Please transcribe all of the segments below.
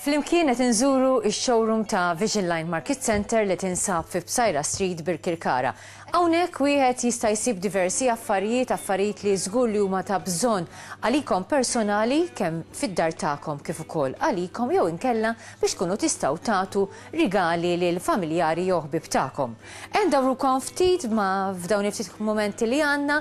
Flimkien qed inżuru x-showroom ta' Vision Line Market Center li tinsab fi Bsajra Street Birkirkara. Hawnhekk wieħed jista' jsib diversi affarijiet, affarijiet li żgur li huma ta' bżonn għalikom personali kemm fid-dar tagħkom kif ukoll għalikom jew inkella biex tkunu tistgħu tagħtu rigali lil familjari jew ħbieb tagħkom. Endawrukom ftit ma' f'dawn il-ftit mumenti li għandna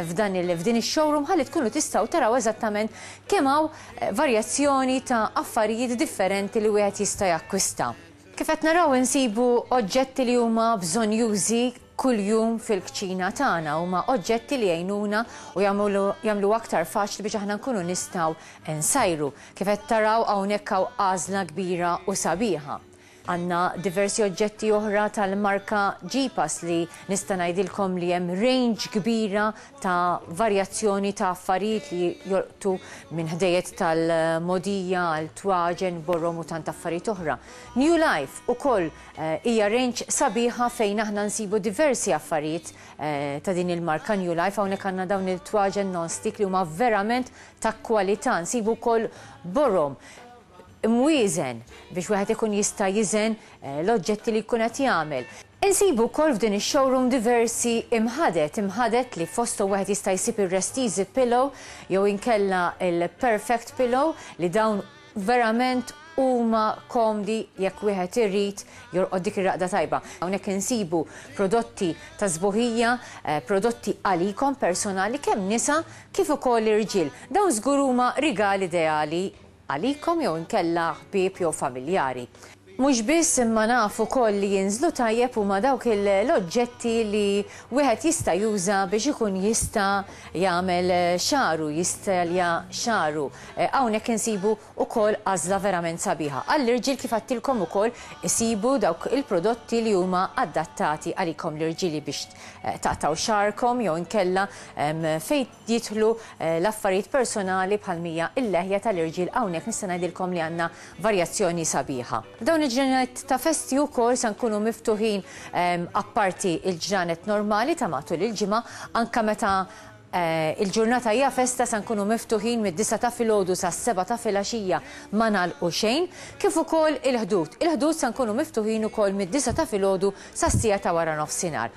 f'dan il f'din ix-showroom ħalli tkunu tistgħu taraw eżattament kemm hawn varjazzjoni ta' affarijiet differenti li wieħed jista' jakkwista. Kif qed naraw insibu oġġetti li huma bżonnjużi kuljum fil-kċina tagħna huma oġġetti li jgħinuna u jagħmlu aktar faċli biex aħna nkunu nistgħu nsajru. Kif qed taraw hawnhekk hawn għażla kbira u sabiħa. Għandna diversi oġġetti oħra tal-marka Ġipas li nista' ngħidilkom li hemm range kbira ta' varjazzjoni ta' affarijiet li jolqtu minn ħdejjed tal-mogħdija għal twaġen, borrom u tant affarijiet oħra. New Life ukoll Hija range sabiħa fejn aħna nsibu diversi affarijiet ta' din il-marka New Life. Hawnhekk għandna dawn il-twaġen non-stick li huma verament ta' kwalità. Nsibu wkoll borom, imwieżen biex wieħed ikun jista' jiżen l-oġġetti li jkun qed jagħmel. Insibu wkoll f'din ix-showroom diversi imħadet, imħadet li fosthom wieħed jista' jsib ir-Rest Easy Pillow jew inkella l-Perfect Pillow li dawn, Verament huma komdi jekk wieħed irid jorqod dik ir-raqda tajba. Hawnhekk insibu prodotti ta' sbuħija, prodotti għalikom personali kemm nisa kif ukoll irġiel. Dawn żgur huma rigal ideali għalikom jew inkella ħbieb jew familjari. Mhux biss imma naf ukoll li jinżlu tajjeb huma dawk l-oġġetti li wieħed jista' juża biex ikun jista' jagħmel xagħru, jistalja xagħru. Hawnhekk insibu ukoll għażla verament sabiħa. Għall-irġiel kif għedtilkom ukoll isibu dawk il-prodotti li huma adattati għalikom l-irġieli biex taqtgħu xagħarkom jew inkella fejn jidħlu l-affarijiet personali bħal mija l-leħja tal-irġiel hawnhekk nista' ngħidilkom li għandna varjazzjoni sabiħa. F'dawn il-ġranet ta' festi wkoll se nkunu miftuħin apparti l-ġranet normali ta' matul il-ġimgħa anke meta l-ġurnata hija festa se nkunu miftuħin mid-disgħa ta' filgħodu sas-sebgħa ta' filgħaxija ma nagħlqu xejn kif ukoll il-ħdud. Il-ħdud se nkunu miftuħin ukoll mid-disgħa ta' filgħodu sas-siegħa ta' waranofsinhar.